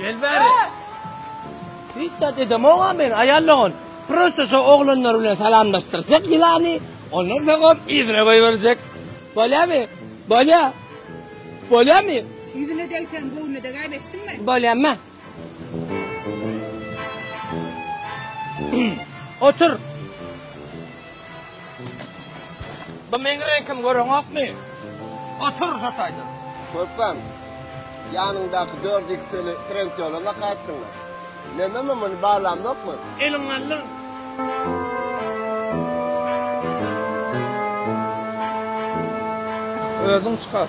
Gel bäri. Hiç zat edemog-a men, aýal dogan. Prosta şo oglanlar bilen salamlaşdyrjak ýylany, ondan soň hem yzyna goýberjek. Bolýamy? Bolýa. Bolýamy? Ýüzüne degseň, göwnüne degäýip eşitdiňmi? Bolýamy? Otur. Bu meň reňkim göreňokmy? Otur şu taýda. Körpem, ýanyňdaky dört ikseli trentyolama gaýtdyňmy? Neme men muny baglamokmy? Eliň aldyň. Özüň çykar.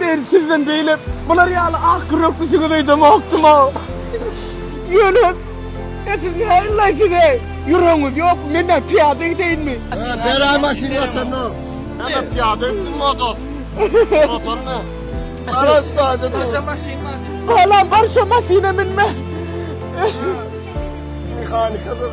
Men sizden beýle bular ýaly ak ýürekli jigit öýdemokdym-a. Ýöne, e siz näme illaýsyz-eý? Ýüregiňiz ýokmy? Men-ä pyýada gideyinmi? Ber-ä maşyn gaçanyny. Ebe pyýada gitdim motor. Motoryny. Gara ştaýda dur. Barça maşyn bar. Balam barça maşyna münme. Mehanika dur.